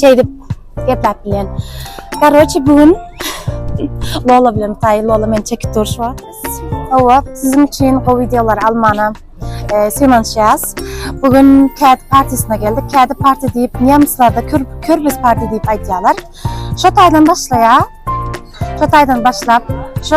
Şeydip geplap bilen. Karoçi bugün Lola bilen tay Lola men çekip duruş var. Ova sizin için o videolar almana e, sevinçyaz. Bugün Kedi Partisi'ne geldik. Kedi Parti deyip Nemslarda Kür, Kürbüz Parti deyip aytyalar. Şu taydan başlaya. Şu taydan başlap. Şu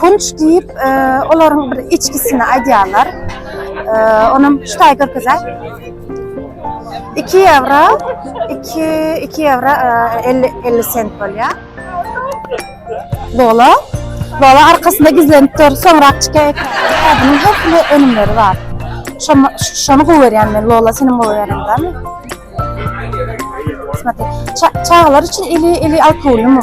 Punç diýip, olaryň bir içgisini aýdýarlar. Onam şu taýy görkezäý. 2 ýewro, 2 2 ýewro 50 50 sent bolýar. Lola. Lola arkasynda gizlenip dur. Soňrak çykaýar. Bunun hökmany önümleri bar. Şoma şonu gowerýän men. Lola seni gowerýän dämi? Смотri. Çagalar üçin ili ili alkoholmy?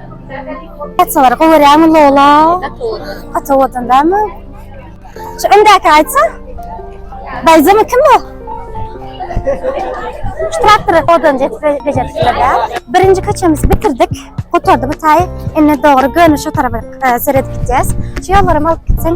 Gaçalar gowerýäňmi Lola? Gaça owadan dämi? Şu öňdäki aýtsa? Baýzamy kim bu? Şu traktory owadan bejeripdirler dä. Birinji köçemizi bitirdik. Gutardy bu taý. Indi dogry göni şu tarafa e, seredip gidýäs. Şu ýollaram alyp gitseň.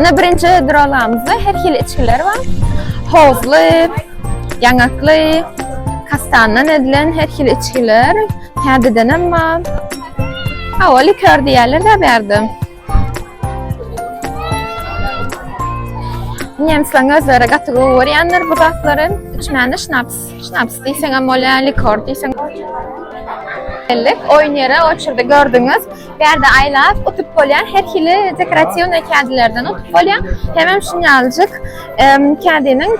Ine birinji duralamyzda her hili içgiler bar. Hozly, ýaňakly, kastandan edilen her hili içgiler. Täzeden hem bar. Hawa, likör diýerler de berdi. Nemsleň özleri gaty gowy görýänler bu zatlary. Üç mäne şnaps. Şnaps diýseň hem bolýar, likör diýseň. Geldik, oýun ýere, o çyrda gördüňiz. Pärde aýlap utup bolýar, her hili dekoratiwnyý kädilerden utup bolýar. Hemem şunýaljyk kädiniň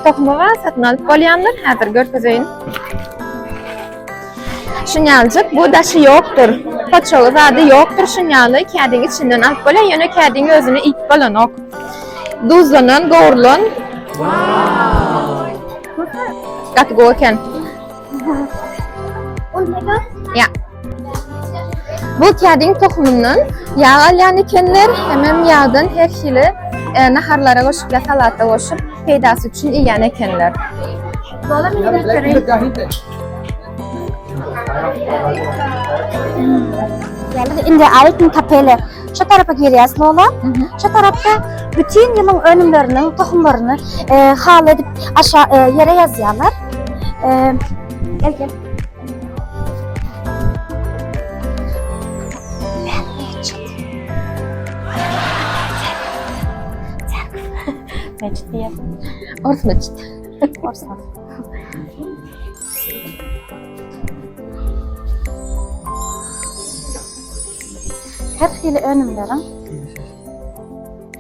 tohumy bar, satyn alyp bolýandyr, häzir görkezeýin. Şunýaljyk bu daşy ýokdur, poçogy zady ýokdur, şunýaly kädiň içinden alyp bolýar, ýöne kädiň özüni iýip bolanok. Duzlanan, gowrulan. Gaty gowy eken. Ya. Bu kediň tohumundan yağ alýan ekenler, hemem ýagdan her hili e, naharlara goşup ýa salata goşup peýdasy üçin iýen ekenler. Dola Indi aýtyn tapele. şu tarapa girýär slona. Şu tarapda bütün ýylyň önümleriniň tohumlaryny e, hal edip aşa e, ýere ýazýarlar. E, gel gel. Mecid diye. Ors mecid. Ors Her hili önümleriň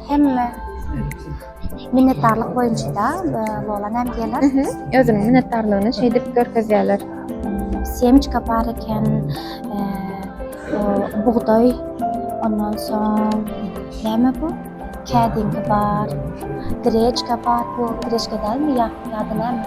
hemme minnetdarlyk boýunça da bolan hem geler. Özüniň minnetdarlygyny şeýdip görkezýärler. Semçka bar eken, bugdaý, ondan soň näme bu? Kädingi bar, greçka bar, bu greçka dälmi ýa-da näme?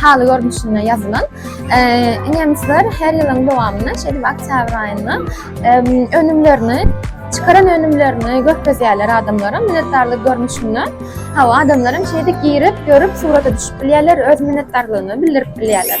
haly görnüşinde ýazylan. Nemisler her ýylyň dowamynda şeýdip oktýabr aýynda önümlerini çykaran önümlerini görkezýärler adamlara minnetdarlyk görnüşinde. Hawa, adamlar hem şeýdip girip, görüp, surata düşüp bilýärler, öz minnetdarlygyny bildirip bilýärler.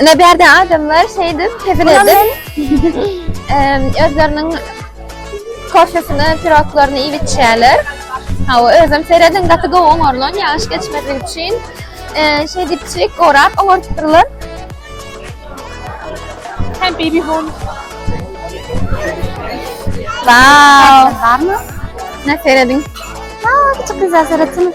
Ine bir ýerde adamlar şeydip, hezil edip, em, özleriniň kofesini, piroklaryny iýip içýärler. Ha, o özüm seredin, gaty gowy oňarlan, ýagyş geçmezlik üçin. E, şey dipçik, gorap, oňaryp durlar. Hem baby home. Wow! Barmy? Ne seredin? Aa, küçük güzel seretsin.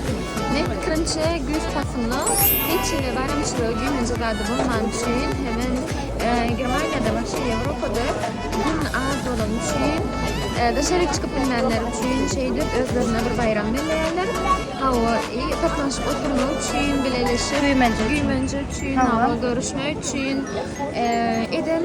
Meniň pikirimçe güýz paslynda hiç hili baýramçylygy gelinje zady bolmany üçin hemem Germaniýada waşe Ýewropada gün az bolany üçin daşaryk çykyp bilmänler üçin şeýdip özlerine bir baýram belleýärler hawa i toplanyşyp oturmak üçin bileleşip güýmenje üçin hawa görüşmek üçin eden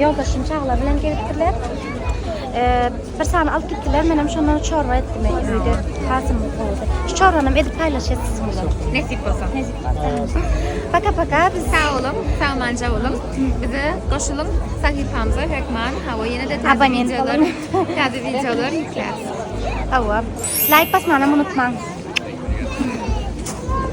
Ýoldaşym çagalar bilen gelipdirler. Bir sany alyp gitdiler, menem şondan çorba etdim öýde. Hasym boldy. Şu çorbanam edip paýlaşýas siz bilen. Nesip bolsa. Nesip bolsa. Paka paka biz sag boluň, sagmanja boluň. Bize goşulyň sahypamyza hökman. Hawa, ýene de täze wideolar, täze wideolar ýükläp. Hawa. Laýk basmany unutmaň.